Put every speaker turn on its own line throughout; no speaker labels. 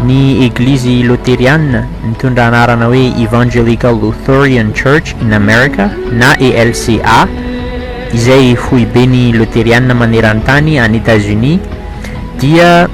Ny Eglizy Loteriana, mitondra anarana hoe Evangelical Lutheran Church in America na ELCA, izay foiben'ny Loteriana maneran-tany any Etazonia, dia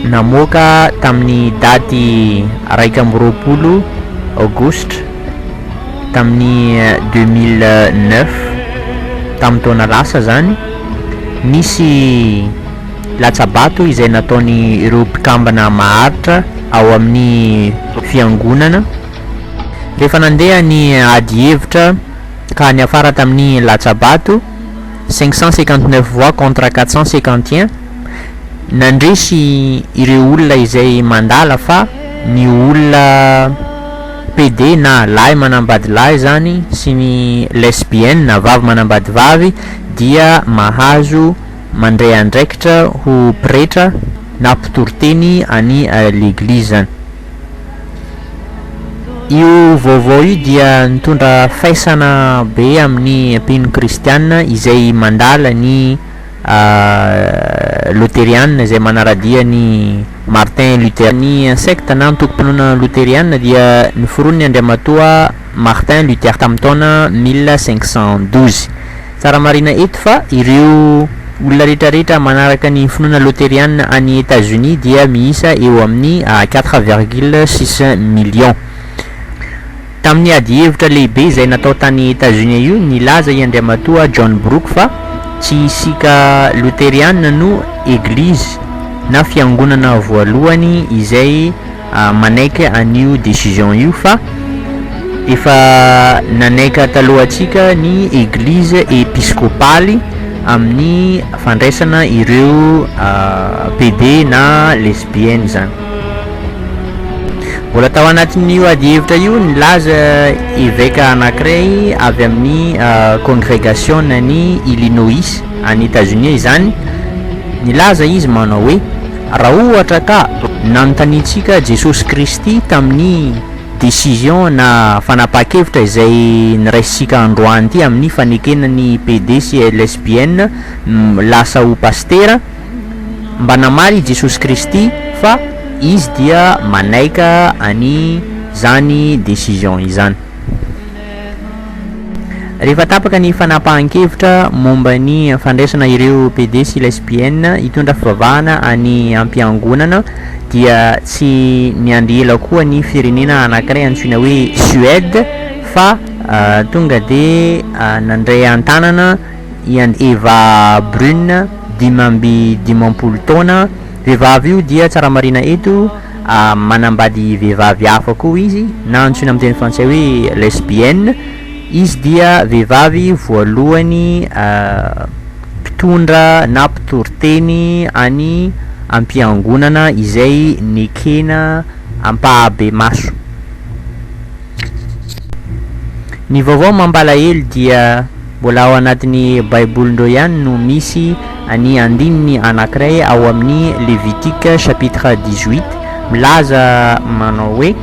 namoaka tamin'ny daty iraika amby roapolo Aogositra tamin'ny deux mille neuf, tamin'ny taona lasa izany, nisy. latsa-bato izay nataony ireo mpikambana maharitra ao amin'ny fiangonana rehefa nandeha ny ady hevitra ka niafara tamin'ny latsa-bato cinq cent cinquante neuf voix contre quatre cent cinquante et un nandresy ireo olona izay mandala fa ny olona PD na lahy manambady lahy izany sy ny lesbiennes vavy manambady vavy dia mahazo Mandray andraikitra ho pretra na mpitory teny any leglizany. Io vaovao io dia nitondra faisana be amin'ny mpino kristiana izay mandala ny loteriana izay manaradia an'i Martin Luther. Ny sekta na antokom-pinoana loteriana dia noforoniny Andriamatoa. Martin Luther tamin'ny taona mille cinq cent douze. Tsara marihina eto fa ireo olona rehetrarehetra manaraka ny finoana loterianina any Etazonia dia miisa eo amin'ny quatre virgule six millions. Tamin'ny adihevitra lehibe izay natao tany Etazonia io, nilaza i Andriamatoa John Brooke fa tsy isika loterianina no eglizy na fiangonana voalohany izay manaiky an'io décision io fa efa nanaika talohantsika ny eglizy episkopaly amin'ny fandraisana ireo PD na lesbiennes izany. Mbola tao anatin'io adihevitra io nilaza eveka anankiray avy amin'ny kongregasionan'i Illinois any Etazonia izany, nilaza izy manao hoe. Raha ohatra ka nanontaniantsika Jesosy Kristy tamin'ny decision na fanapahan-kevitra izay niraisintsika androany ity amin'ny fanekena ny PD sy Lesbienne lasa ho Pasitera, mba namaly i Jesosy Kristy fa Izy dia manaika an'izany decision izany. Rehefa tapaka ny fanapahan-kevitra momba ny fandraisana ireo PD sy lesbiennes hitondra fivavahana any am-piangonana dia tsy miandry ela koa ny firenena anankiray antsoina hoe Suède fa tonga dia nandray an-tanana i Eva Brune dimy amby dimampolo taona Vehivavy io dia tsara marihina eto a manambady vehivavy hafa koa izy na antsoina amin'ny teny frantsay hoe lesbienne. Izy dia vehivavy voalohany mpitondra na mpitoriteny any am-piangonana izay nekena ampahabemaso. Ny vaovao mampalahelo dia. Mbola ao anatin'ny Baibolindreo ihany no misy ny andininy anankiray ao amin'ny Levitique chapitre dix-huit milaza manao hoe,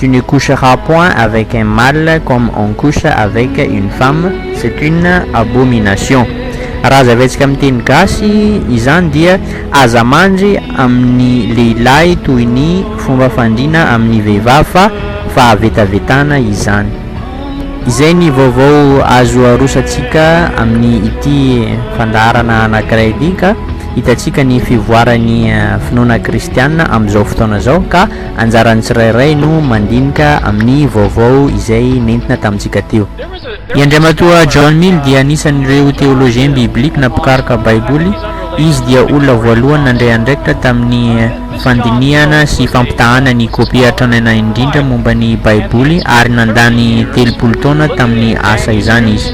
Tu ne coucheras point avec un mâle comme on couche avec une femme, c'est une abomination. Raha hazavaintsika amin'ny teny gasy izany dia aza mandry amin'ny lehilahy toy ny fomba fandriana amin'ny vehivavy fa fahavetavetana izany. Izay ny vaovao azo arosatsika amin' ity fandaharana anankiray ity ka hitantsika ny fivoaran' ny finoana kristiana amin' izao fotoana izao ka anjaran'ny tsirairay no mandinika amin'ny vaovao izay nentina tamintsika teo. I Andriamatoa John Mill dia anisan'ireo Théologien Biblique nampikaroka Baiboly. Izy dia olona voalohany nandray andraikitra tamin'ny. fandinihana sy fampitahana ny kopia tranaina indrindra momba ny Baiboly, ary nandany telopolo taona tamin'ny asa izany izy.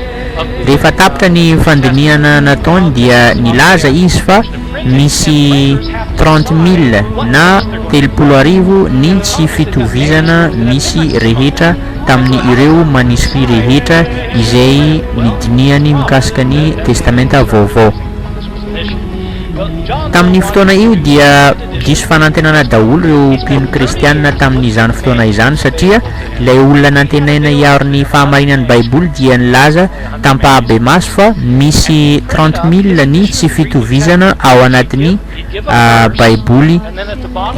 Rehefa tapitra ny fandinihana nataony, dia nilaza izy fa misy trente mille, na telopolo arivo, ny tsy fitovizana misy rehetra tamin'ny ireo maniskria rehetra izay nodinihany mikasika ny Testamenta Vaovao. Tamin'io fotoana io dia diso fanantenana daholo ireo mpino kristiana tamin'izany fotoana izany satria ilay olona nantenaina hiaro ny fahamarinan'ny Baiboly dia nilaza tam-pahabemaso fa misy trente mille ny tsy fitovizana ao anatin'ny Baiboly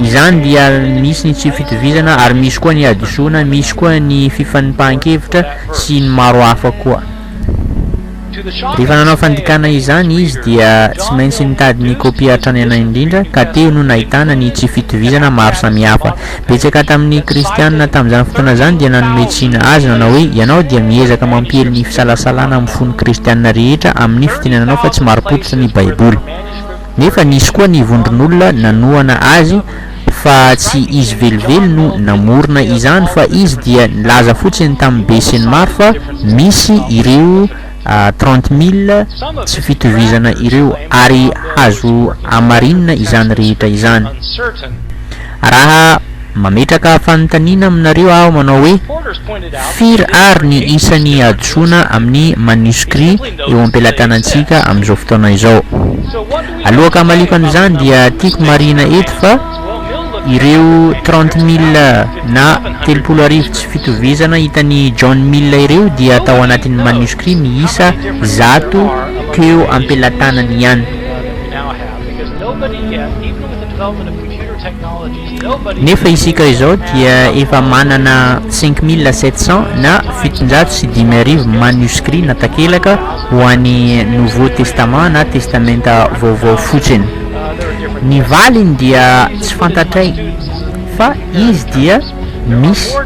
izany dia misy ny tsy fitovizana ary misy koa ny hadisoana, misy koa ny fifanipahan-kevitra sy ny maro hafa koa. Rehefa nanao fandikana izany izy dia tsy maintsy nitady ny kopia hatrany anay indrindra, ka teo no nahitana ny tsy fitovizana maro samihafa. Betsaka tamin'ny Kristianina tamin'izany fotoana izany dia nanome tsiny azy nanao hoe, Ianao dia miezaka mampiely ny fisalasalana amin'ny fon'ny Kristianina rehetra amin'ny fitenenanao fa tsy marim-pototra ny Baiboly. Nefa nisy koa ny vondron'olona nanohana azy fa tsy izy velively no namorona izany fa izy dia nilaza fotsiny tamin'ny be sy ny maro fa misy ireo trente mille tsy fitovizana ireo ary azo hamarinina izany rehetra izany. Raha mametraka fanontaniana aminareo aho manao hoe, Firy àry ny isan'ny hadisoana amin'ny maniskria eo am-pelatanantsika amin'izao fotoana izao? Aloaka hamaliako an'izany dia tiako marihina eto fa ireo trente mille na telopolo arivo tsy fitovizana hitan'i John Mill ireo dia tao anatin'ny maniskria miisa zato teo am-pelatanany ihany. Nefa isika izao dia efa manana cinq mille sept cent na fitonjato sy dimy arivo manuscrits na takelaka ho an'ny Nouveau Testament na Testamenta Vaovao fotsiny. Ny valiny dia tsy fantatray fa izy dia misy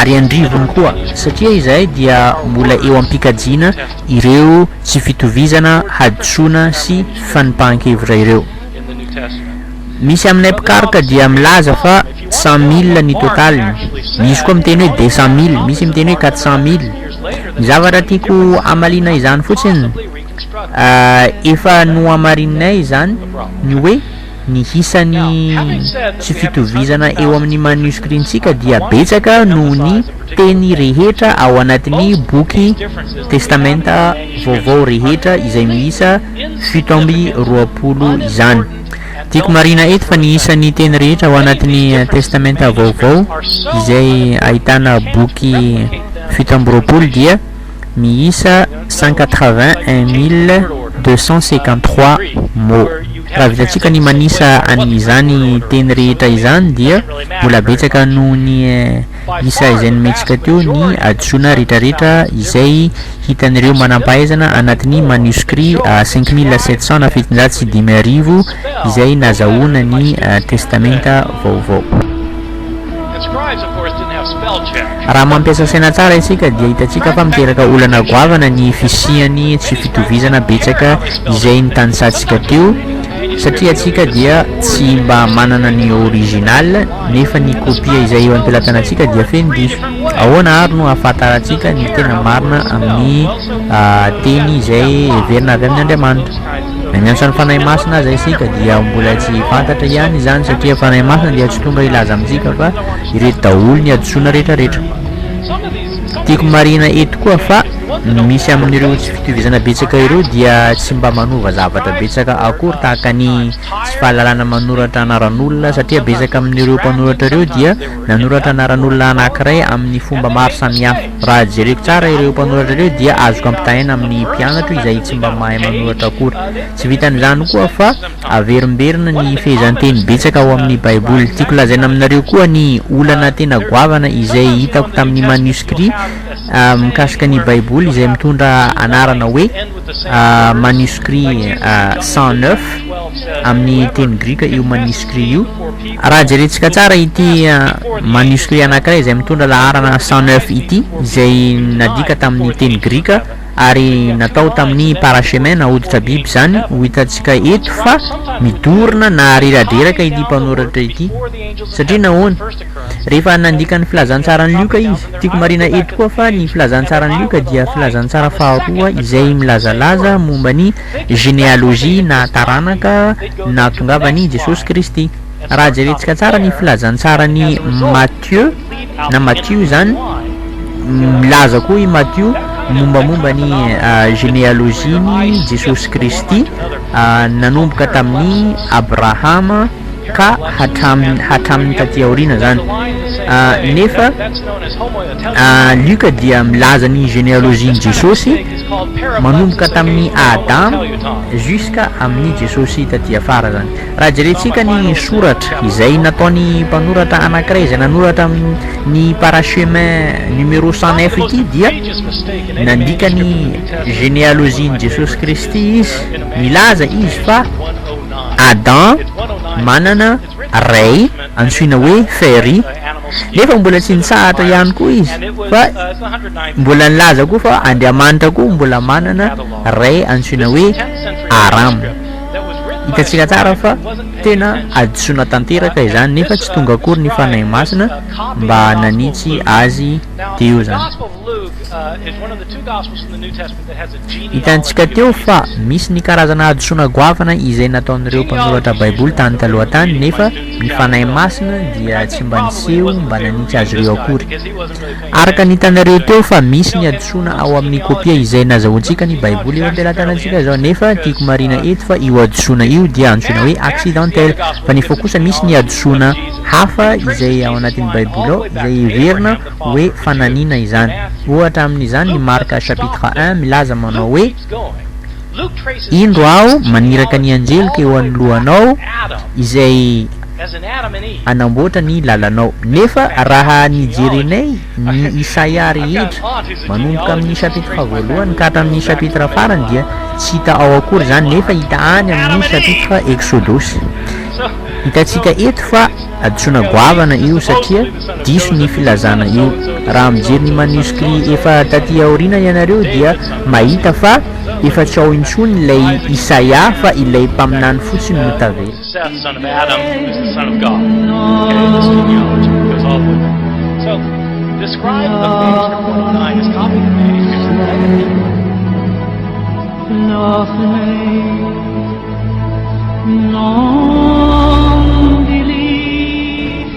ary andrivony koa satria izahay dia mbola eo am-pikajiana ireo tsy fitovizana, hadisoana sy fanipahan-kevitra ireo. Misy aminay mpikaroka dia milaza fa cent mille ny totaliny, misy koa miteny hoe deux cent mille, misy miteny hoe quatre cent mille. Ny zavatra tiako hamaliana izany fotsiny, efa nohamarininay izany ny hoe ny isan'ny tsy fitovizana eo amin'ny manioscrit-ntsika dia betsaka noho ny teny rehetra ao anatin'ny boky Testamenta Vaovao rehetra izay miisa fito amby roapolo izany. Tiako marihina eto fa ny isan'ny teny rehetra ao anatin'ny Testamenta Vaovao izay ahitana boky fito amby roapolo dia miisa cent quatre-vingt-un mille deux cent cinquante-trois mots. Raha vitantsika ny manisa an'izany teny rehetra izany dia mbola betsaka noho ny isa izay nometsika teo ny hadisoana retraretra izay hitan'ireo manampahaizana anatin'ny manuscrit cinq mille sept cent na fitonjato sy dimy arivo izay nazahoana ny Testamenta Vaovao. Raha mampiasa saina tsara isika dia hitantsika fa miteraka olana goavana ny fisian'ny tsy fitovizana betsaka izay nitanisantsika teo satria isika dia tsy mba manana ny original, nefa ny kopia izay eo am-pelatanantsika dia feno diso. Ahoana àry no ahafantarantsika ny tena marina amin'ny teny izay heverina avy amin' Andriamanitra? Na miantso ny fanahy masina aza isika, dia mbola tsy fantatra ihany izany, satria ny fanahy masina dia tsy tonga hilaza amintsika fa ireto daholo ny hadisoana rehetrarehetra. Tiako marihina eto koa fa ny misy amin'ireo tsy fitovizana betsaka ireo dia tsy mba manova zavatra betsaka akory tahaka ny tsy fahalalana manoratra anaran'olona satria betsaka amin'ireo mpanoratra ireo dia nanoratra anaran'olona anankiray amin'ny fomba maro samihafa. Raha jereko tsara ireo mpanoratra ireo dia azoko ampitahaina amin'ny mpianatro izay tsy mba mahay manoratra akory. Tsy vitan'izany koa fa averimberina ny fehezanteny betsaka ao amin'ny Baiboly. Tiako lazaina aminareo koa ny olana tena goavana izay hitako tamin'ny maniskria mikasika ny Baiboly izay mitondra anarana hoe. manuscrit cent neuf amin'ny teny grika io manuscrit io raha jerentsika tsara ity manuscrit anankiray izay mitondra laharana cent neuf ity izay nadika tamin'ny teny grika ary natao tamin'ny parachemena hoditra biby izany ho hitantsika eto fa midorona na riradreraka ity mpanoratra ity satria nahoana Rehefa nandika ny filazantsaran'i Lioka izy. Tiako marihina eto koa fa ny filazantsaran'i Lioka dia filazantsara faharoa izay milazalaza momba ny genealogie na taranaka nahatongavan'i Jesosy Kristy. Raha jerentsika tsara ny filazantsaran'i Matio na Matio izany, milaza koa i Matio mombamomba ny genealogie-n'i Jesosy Kristy nanomboka tamin'i Abrahama ka hatramin'ny hatramin'ny taty aoriana izany nefa Lioka dia milaza ny généalogie-n'i Jesosy manomboka tamin'ny Adam jusqu'à amin'ny Jesosy taty afara izany raha jerentsika ny soratra izay nataony mpanoratra anankiray izay nanoratra ny parachemins numéro cent neuf ity dia nandika ny généalogie-n'i Jesosy Kristy izy milaza izy fa Adam manana ray antsoina hoe Fairy nefa mbola tsy nitsahatra ihany koa izy fa mbola nilaza koa fa Andriamanitra koa mbola manana ray antsoina hoe Aram. Hitantsika tsara fa tena hadisoana tanteraka izany nefa tsy tonga akory ny Fanahy Masina mba nanitsy azy teo izany. Hitantsika teo fa misy ny karazana hadisoana goavana izay nataon'ireo mpanoratra Baiboly tany taloha tany, nefa ny fanahy masina dia tsy mba niseho mba nanitsy azy ireo akory. Araka ny hitanareo teo fa misy ny hadisoana ao amin'ny kopia izay nazahoantsika ny Baiboly eo am-pelatanantsika izao, nefa tiako marihina eto fa io hadisoana io dia antsoina hoe accidentel, fa nefa kosa misy ny hadisoana hafa izay ao anatin'ny Baiboly ao izay heverina hoe fananina izany. Ohatra amin' izany i Marka chapitre un milaza manao hoe, Indro aho maniraka ny anjeloko eo anoloanao izay hanamboatra ny lalanao. Nefa raha ny jerenay ny Isaia rehetra, manomboka amin' ny chapitre voalohany ka hatramin' ny chapitre farany dia tsy hita ao akory izany nefa hita any amin' ny chapitre Eksodosy. Hitantsika eto fa hadisoana goavana io satria Diso ny filazana io. Raha mijery ny manuscrit efa taty aoriana ianareo dia mahita fa efa tsy ao intsony ilay Isaia fa ilay mpaminany fotsiny no
tavela.